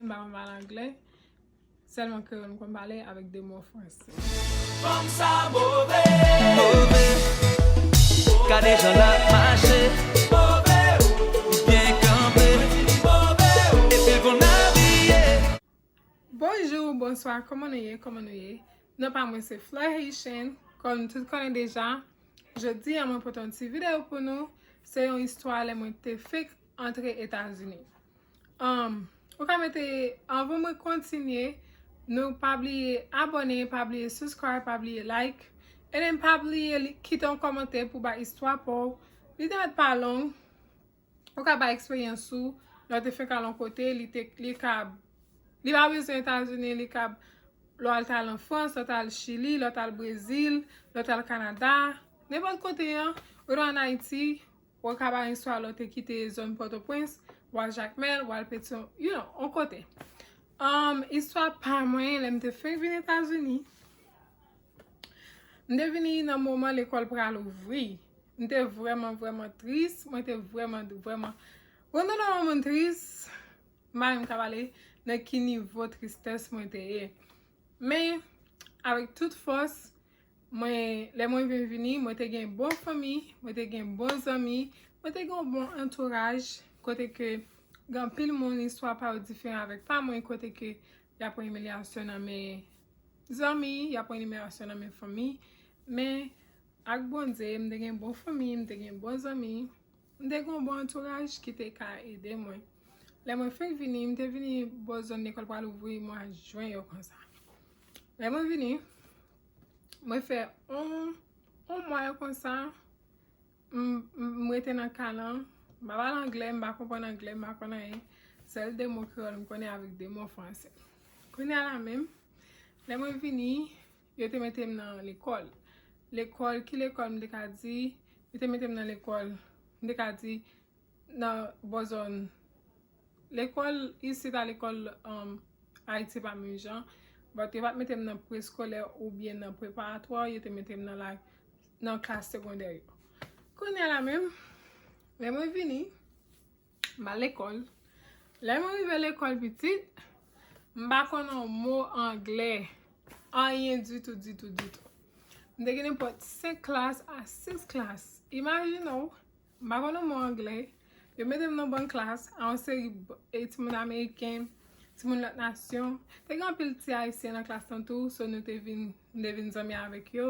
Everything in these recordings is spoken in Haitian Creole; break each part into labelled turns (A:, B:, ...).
A: Mpa konn pale anglè, sèlman kreyòl m konn pale avèk 2 mo fransè. Fanm sa
B: move, move, gade jan lap mache, move oh, li byen kanpe, mwen di li move oh, epil konn abiye. Bonjou,
A: bonswa, kòman nou ye, kòman nou ye? Non pa mwen se Fleur Haitian, kòm nou tout konnen deja. Jodi a mwen pote yon ti videyo pou nou, se yon istwa lè mwen te fenk antre etazini um ou ka mete anvan mwen kontinye nou pa bliye abone pa bliye subscribe pa bliye like edem pa bliye kite yon komante pou bay istwa paw li te met pa long ou ka bay eksperyans ou lè ou te fek al yon kote li te li kab li pa bezwen etazini li kab lè ou te al an frans lè ou te al chili lè ou te al brezil lè ou te al kanada nenpòt kote an ou te an ayiti Wa Kabarin Swallow te kite zòn Pòtoprens, wa Jakmèl, wal Petyon, you know, on kote. Umm, istwa pa mwen, lè m te fenk vin Etazini, m te vini nan moman lekòl pral ouvri. M te vrèman vrèman tris, mwen te vrèman vrèman, wè nou lè yon moun tris, m pa menm ka pale nan ki nivo tristès mwen te ye. Men, avèk tout fòs. Mwen, lè mwen vin vini, mwen te gen bon fanmi, mwen te gen bon zanmi, mwen te gen yon bon antouraj, kote ke gen anpil moun istwa pa yo diferan avèk pa mwen, kote ke y ap pran imilyasyon nan men zanmi, y ap pran imilyasyon nan men fanmi, men ak Bondye, m te gen bon fanmi, m te gen bon zanmi, m te gen yon bon antouraj ki te ka ede mwen. Lè mwen fenk vini, m te vini bò zòn lekòl pral ouvri mwa jen yo konsa. Lè mwen vini. Mwen fè on mwa yo konsa, m rete nan ka lan, m pa pale anglè, m pa konprann anglè, m pa konn anyen, sèl 2 mo kreyòl m konnen avèk 2 mo fransè. Kounya la menm, lè mwen vini, yo te mete m nan lekòl. Lekòl, ki lekòl m te ka di, yo te mete m nan lekòl, m te ka di nan bò zòn Lekòl isit a lekòl Ayiti pa menm jan, but yo pat mete m nan preskolè oubyen nan preparatwa, yo te mete m nan la, nan klas segondè yo. Kounya la menm, lè mwen vini, m al lekòl, lè mwen rive lekòl pitit, m pa konn yon mo anglè, anyen ditou ditou ditou. M te gen nenpòt 5 klas a 6 klas, imajine w! M pa konn yon mo angle. Yo mete m nan ban klas a yon seri timoun ameriken, timoun lòt nasyon. Te gen anpil ti ayisyen nan klas lan tou, so nou te vin, m te vin zanmi avèk yo,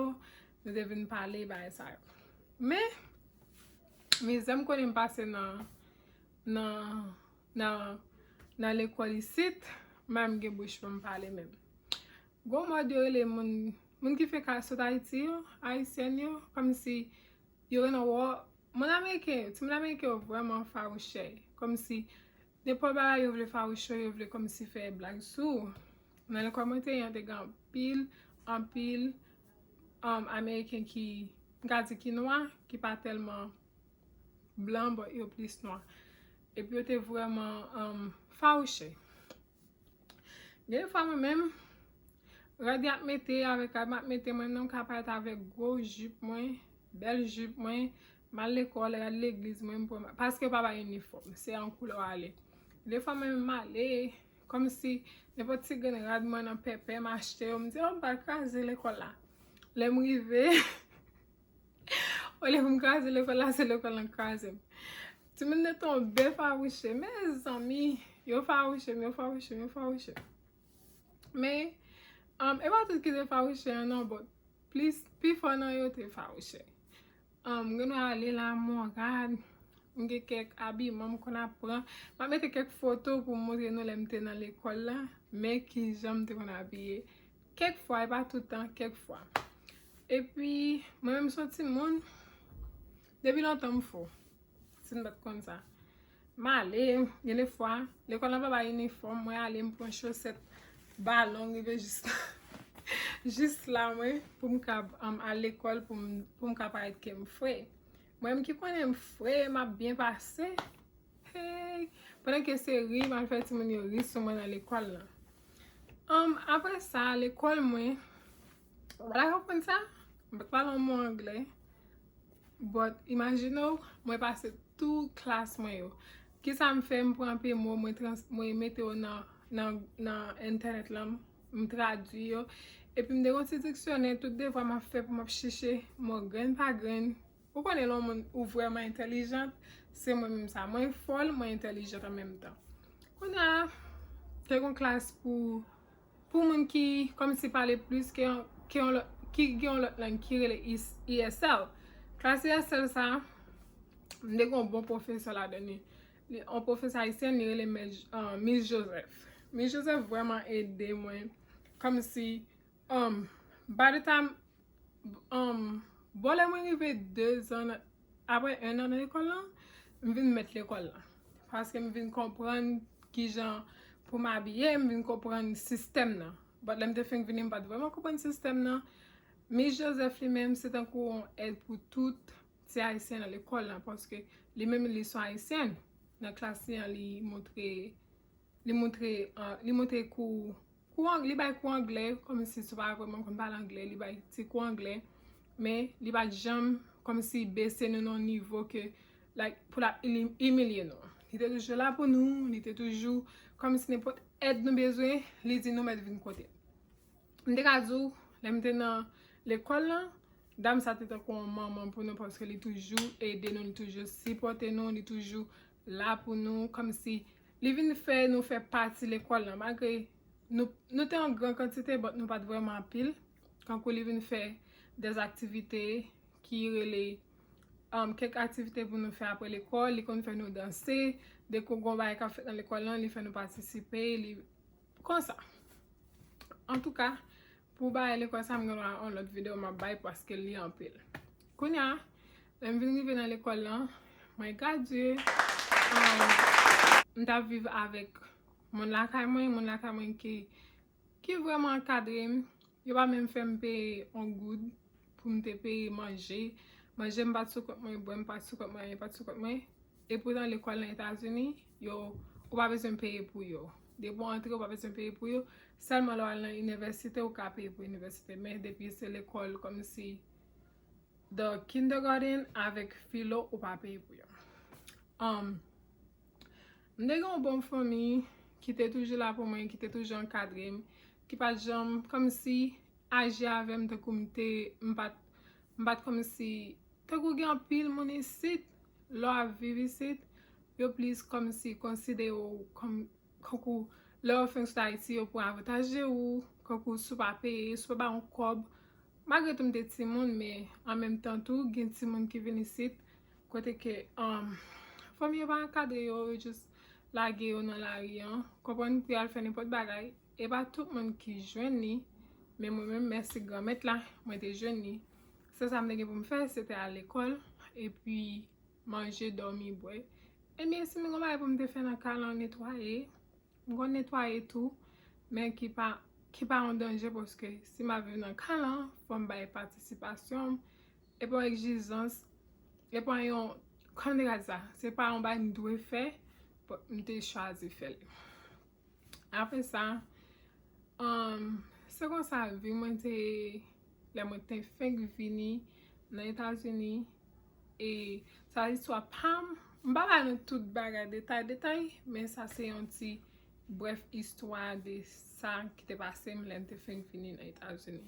A: nou te vin pale bagay sa yo. Men, mizè m konnen m pase nan, nan, nan, nan lekòl isit, m pa menm gen bouch pou m pale menm. Gon mòd yo rele moun, moun ki fenk sot Ayiti yo, ayisyèn yo, kòmsi. Yo renmen wè moun ameriken yo. Timoun ameriken yo vrèman fawouchè. Kòmsi nenpòt bagay yo vle fawouchè, yo vle kòmsi fè blag sou ou. Nan lekòl mwen te ye an te gen anpil, anpil ameriken ki, m ka di ki nwa, ki pa tèlman blan, bon yo plis nwa. Epi yo te vrèman fawouchè. Gen de fwa mwen menm, rad yap mete avèk rad map mete mwen menm ka parèt avèk gwo jip mwen, bèl jip mwen, mal lekòl, rad legliz mwen, paske pa ba inifòm, se an koulè w ale. De fwa mwen menm male, kòm si nenpòt ti grenn rad mwen nan pèpè m achte yo, m di oh m pral kraze lekòl la. Lè m rive. Olye pou m kraze lekòl la, se lekòl lan k kraze m. Timoun yo tonbe fawouche. Mezanmi! Yo fawouche m, yo fawouche m, yo fawouche m. Men, e pa tout ki te fawouche an non, bòt. Plis, pi fò nan yo te fawouche. M genlè ale la morad, m gen kèk abiman m konn ap pran. M ap mete kèk foto pou m montre nou lè m te nan lekòl la, men ki jan m te konn abiye. Kèk fwa, e pa tout tan, kèk fwa. E pi, mwen menm son ti moun, depi lontan m fou. Si n pat konn sa. M ale, gen de fwa, lekòl la pa bay inifòm, mwen ale m pran chosèt ba long rive jis la. Jis la mwen, pou m kab al lekòl, pou m ka parèt ke m fre. Mwen menm ki konnen m fre, m ap byen pase, Hey! Pandan ke se ri map fè timoun yo ri sou mwen nan lekòl lan. Humm apre sa lekòl mwen ou pa ta konprann sa? M pa pale yon mo anglè but imajine w mwen pase tou klas mwen yo. Kisa m fè? M pran anpe mo mwen trans mwen mete yo nan nan nan entènèt lan m tradui yo epi m te gen yon ti diksyonè tout devwa map fè pou map chèche mo grenn pa grenn Ou konnen lè yon moun ou vrèman entèlijant, se mwen menm sa. Mwen fòl, mwen entèlijant an menm tan. Kounye a, te gen yon klas pou pou moun ki kòmanse pale plis ke yon ke yon lòt ki gen yon lòt lang ki rele ESL. Klas ESL sa a, m te gen yon bon pwofesè ladan li. Yon pwofesè ayisyèn, li rele mè Mis Jozèf. Mis Jozèf vrèman ede mwen kòmsi by the time Bon lè mwen rive 2 zan apre 1 nan nan lekòl lan, m vin mèt lekòl lan. Paske m vin konprann ki jan pou m abiye, m vin konprann sistèm nan. Bòt lè m te fenk vini m pa t vrèman konprann sistèm nan. Mis Joseph li menm se tankou yon èd pou tout ti Ayisyen nan lekòl lan. Paske li menm li son Ayisyèn. Nan klas li an li montre, li montre, li montre kou. Kou anglè, li bay kou anglè, kòmsi si w pa vrèman konn pale anglè, li bay ti kou anglè, men li pa janm kòmsi bese nou nan yon nivo ke like pou l ap imilye nou. Li te toujou la pou nou, li te toujou kòmsi nenpòt èd nou bezwen, li di nou mèt vin kote l. M te ka di w, lè m te nan lekòl lan, dam sa te tankou yon manman pou nou paske li toujou ede nou, li toujou sipòte nou, li toujou la pou nou kòmsi li vin fè nou fè pati lekòl lan malgre nou nou te an gran kantite but nou pat vrèman anpil tankou li vin fè des aktivite ki rele kèk aktivite pou nou fè apre lekòl li konn fè nou danse dekou gon bagay kap fèt nan lekòl lan li fè nou patisipe li Konsa. Antouka, pou bagay lekòl sa a, m gen dwa yon lòt videyo m ap bay paske li anpil. Kounye a, lè m vin rive nan lekòl lan, mwen gradye. M t ap viv avèk moun lakay mwen. Moun lakay mwen ki vrèman ankadre m. Yo pa menm fè m peye yon goud. pou m te peye manje, manje m pa t sou kont mwen, bwè m pa t sou kont mwen, anyen pa t sou kont mwen. Epoutan lekòl nan Etazini, yo, ou pa bezwen peye pou yo. Depi w antre, ou pa bezwen peye pou yo. Sèlman lè w al nan inivèsite, ou ka peye pou inivèsite. Men depi se lekòl kòmsi the kindergarten avèk filo, ou pa peye pou yo. Anm, m te gen yon bon fanmi ki te toujou la pou mwen, ki te toujou ankadre m, ki pa t janm kòmsi. aji avèm tankou m te m pat m pat kòmsi tankou gen anpil moun isit lè w ap viv isit yo plis kòmsi konsidere w kòm kankou lè w fin sot ayiti yo pran avantaj de ou kankou si w pa peye si w pa ba yon kòb malgre tou m te timoun men an menm tan tou gen timoun ki vin isit kote ke fanmi yo pa ankadre yo yo jis lage yo nan lari an konprann pou y al fè nenpòt bagay E pa tout moun ki jwenn li, men mwen menm mèsi Granmèt la, mwen te jwenn li. Sèl sa m te gen pou m fè, se te al lekòl, epi manje, dòmi, bwè. Ebyen, si m te gen yon bagay pou m te fè nan kay lan, netwaye, m konn netwaye tou, men ki pa, ki pa yon danje paske si m ap viv nan kay lan, fò m bay patisipasyon m, e pa yon egzijans, e pa yon, kòman m te ka di sa? Se pa yon bagay m dwe fè, m te chwazi fè l. Apre sa, se konsa vi mwen te, lè mwen te fenk vini nan Etazini, e sa listwa pa m, m pa ba nou tout bagay detay detay, men sa se yon ti brèf istwa de sa ki te pase m lè m te fenk vini nan Etazini.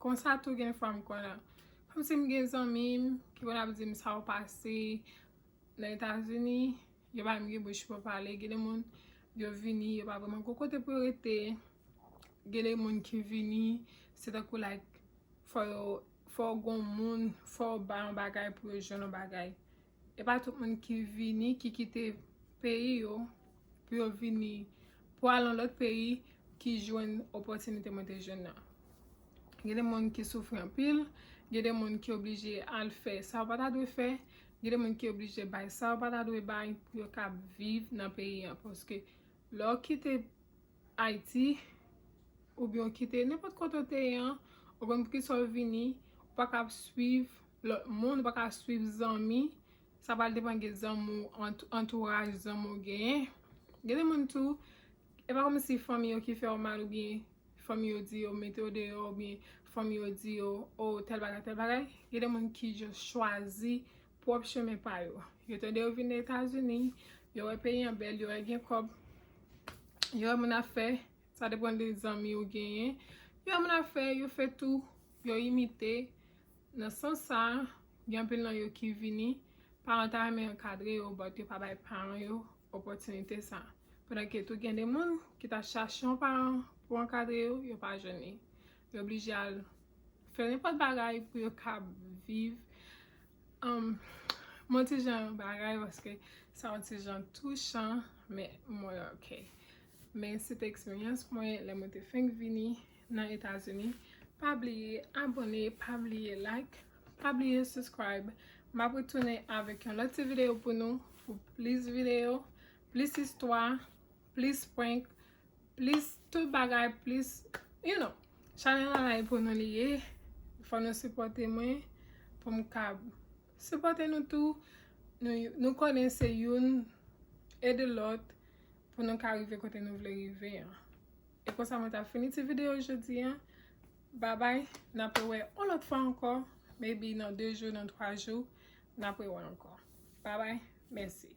A: Konsa tou gen fwa m konn ap, kòmsi m gen zanmi m ki konn ap di m sa yo pase nan Etazini, Yo pa menm gen bouch pou pale. Gen de moun yo vini yo pa vreman gon kote pou yo rete. Gen de moun ki vini se tankou like fò yo fò w gon moun, fò w bay yon bagay pou yo jwenn yon bagay. E pa tout moun ki vini ki kite peyi yo pou yo vini pou al yon lòt peyi ki jwenn opòtinite mwen te jwenn nan. Gen de moun ki soufri anpil, gen de moun ki oblije al fè sa yo pa ta dwe fè, Gen de moun ki oblije bay sa yo pa ta dwe bay pou yo kab viv nan peyi an paske lè w kite Ayiti oubyen w kite nenpòt kote w te ye an ou konn pou kisa w vini ou pa kab swiv lòt moun ou pa ka swiv zanmi sa pral depan gen zanmi w antouraj zanmi w genyen gen de moun tou E pa kòm si fanmi yo ki fè w mal oubyen fanmi yo di yo mete w deyò oubyen fanmi yo di yo oh tèl bagay tèl bagay. Gen de moun ki just chwazi pwòp chemen pa yo. Yo tande yo vin Etazini, yo wè peyi an bèl, yo wè gen kòb, yo wè moun ap fè, sa depan de zanmi ou genyen, yo wè moun ap fè, yo fè tou, yo imite. Nan sans sa, gen anpil nan yo ki vini, paran yo ta renmen ankadre yo but yo pa bay paran yo opòtinite sa a. Pandan ke tou gen de moun ki ta chache yon paran pou ankadre yo, yo pa jwenn li. Yo blije al fè nenpòt bagay pou yo kab viv yon ti jan bagay paske sa yon ti jan touchan men mwen ok. Men se te eksperyans mwen lè mwen te fenk vini nan etazini pa bliye abone pa bliye like pa bliye subscribe map retounen avek yon lot ti video pou nou pou plis video plis istwa plis prank plis tout bagay plis you know chanel la la pou nou li ye fò nou sipote mwen poum ka sipote nou tou nou konnen se youn ede lot pou nou ka rive kote nou vle rive an. E konsa mwen ta fini ti video jodi an. Babay, n apre wè on lòt fwa ankò. Maybe nan 2 jou, nan 3 jou, n apre wè ankò. Babay, mèsi.